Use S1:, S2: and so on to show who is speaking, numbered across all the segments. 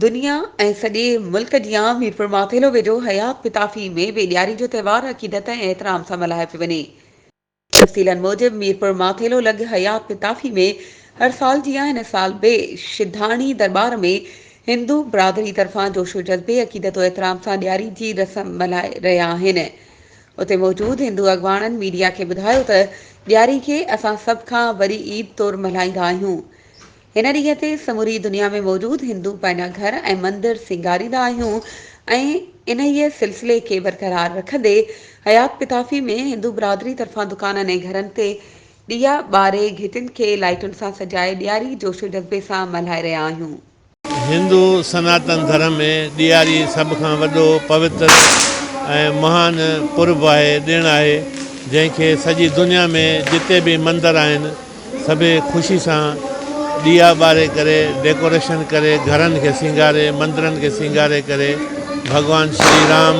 S1: دنيا ۽ سڄي ملڪ جي عام ميرپور ماٿيلو ويجهو حيات پتافي ۾ به ڏياري جو تهوار عقيدت ۽ احترام سان ملهايو پيو وڃي. تفصيلن موجب ميرپور ماٿيلو لڳ حيات پتافي ۾ هر سال جيان هن سال به شڌاڻي درٻار ۾ هندو برادري طرفان جوش و جذبي عقيدت و احترام سان ڏياري جي رسم ملهائي رهيا آهن اتي موجود هندو اڳواڻن ميڊيا کي ٻڌايو ته ڏياري کي اسان سڀ کان وڏي عيد طور ملهائيندا آهيون هن ڏينهن تي سموري دنيا ۾ موجود هندو پنهنجا گهر ۽ مندر سينگاريندا آهيون ۽ انهيء سلسلي کي برقرار رکندي حيات پتافي ۾ هندو برادري طرفان دڪانن ۽ گهرن تي ڏيئا ٻاري گهٽين کي لائٽن سان سجائي ڏياري جوش و جذبي سان ملهائي رهيا آهيون. هندو
S2: سناتن ڌرم ۾ ڏياري سڀ کان وڏو، پوتر ۽ مهان پرب آهي، ڏڻ آهي، جنهن کي سڄي دنيا ۾ جتي به مندر آهن، سڀيئي خوشي سان ڏيئا ٻاري ڪري ڊيڪوريشن ڪري گهرن کي سينگاري مندرن کي سينگاري ڪري ڀڳوان شري رام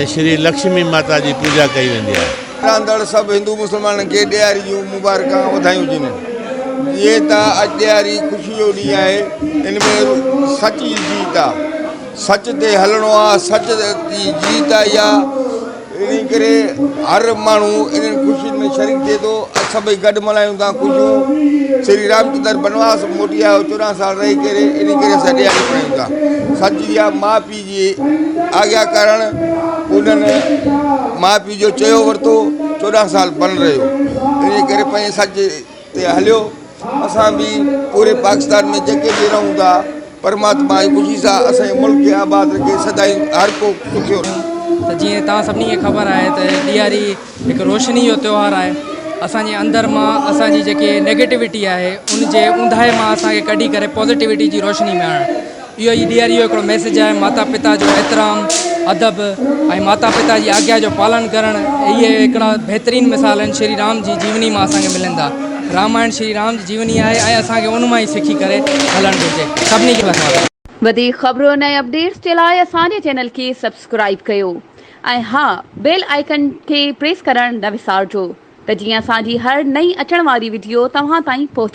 S2: ۽ شري لڪشمي ماتا جي پوڄا ڪئي ويندي آهي. رهندڙ سڀ هندو
S3: مسلمانن کي ڏياري جون مبارڪان ۽ وڌايون ڏنيون. جيئن ته اڄ ڏياري خوشي جو ڏينهن آهي ان ۾ سچ جي جيت آهي سچ تي هلڻو آهي سچ جي جيت آئي آهي. انهيء ڪري هر ماڻهو انهن خوشين ۾ شريڪ ٿئي ٿو ۽ سڀئي گڏ ملهايون ٿا خوشيون. شري رامچندر بنواس مان موٽي آيو، چوڏهن سال رهي ڪري، انهيء ڪري اسان ڏيئاري ملهايون ٿا. سچ اها آهي، ماء پيء جي آگيا ڪرڻ انهن ماء پيء جو چيو ورتو، چوڏهن سال بن رهيو، انهيء ڪري پنهنجي سچ، تي هليو اسان به پوري پاڪستان ۾ جيڪي به رهون ٿا پرماتما جي خوشي سان اسان جي ملڪ کي آباد رکي سدائين هر ڪو سکيو رهي. ته جيئن توهان
S4: سڀني کي خبر آهي ته ڏياري هڪ روشني جو تيوهار آهي اسان جي اندر مان اسان جي جيڪي نيگيٽوٽي آهي ان جي اونداهي مان اسان کي ڪڍي ڪري پوزيٽوٽي جي روشني ۾ آڻڻ اهو ئي ڏياري جو هڪڙو ميسيج آهي ماتا پتا جو احترام ادب ۽ ماتا پتا جي آگيا جو پالن ڪرڻ اهي هڪڙا بهترين مثال آهن شري رام جي جيوني مان اسان کي ملن ٿا رامائڻ شري رام جي جيوني آهي ۽ اسان کي ان مان ئي سکي ڪري هلڻ گهرجي سڀني کي لکان. وڌيڪ خبرن
S1: ۽ اپڊيٽس جي لاء اسان جي چينل کي سبسڪرائيب ڪيو ۽ ها بيل آئيڪن کي پريس ڪرڻ نه وسارجو ته جيئن اسان جي هر نئين اچڻ واري وڊيو توهان تائين پهچي.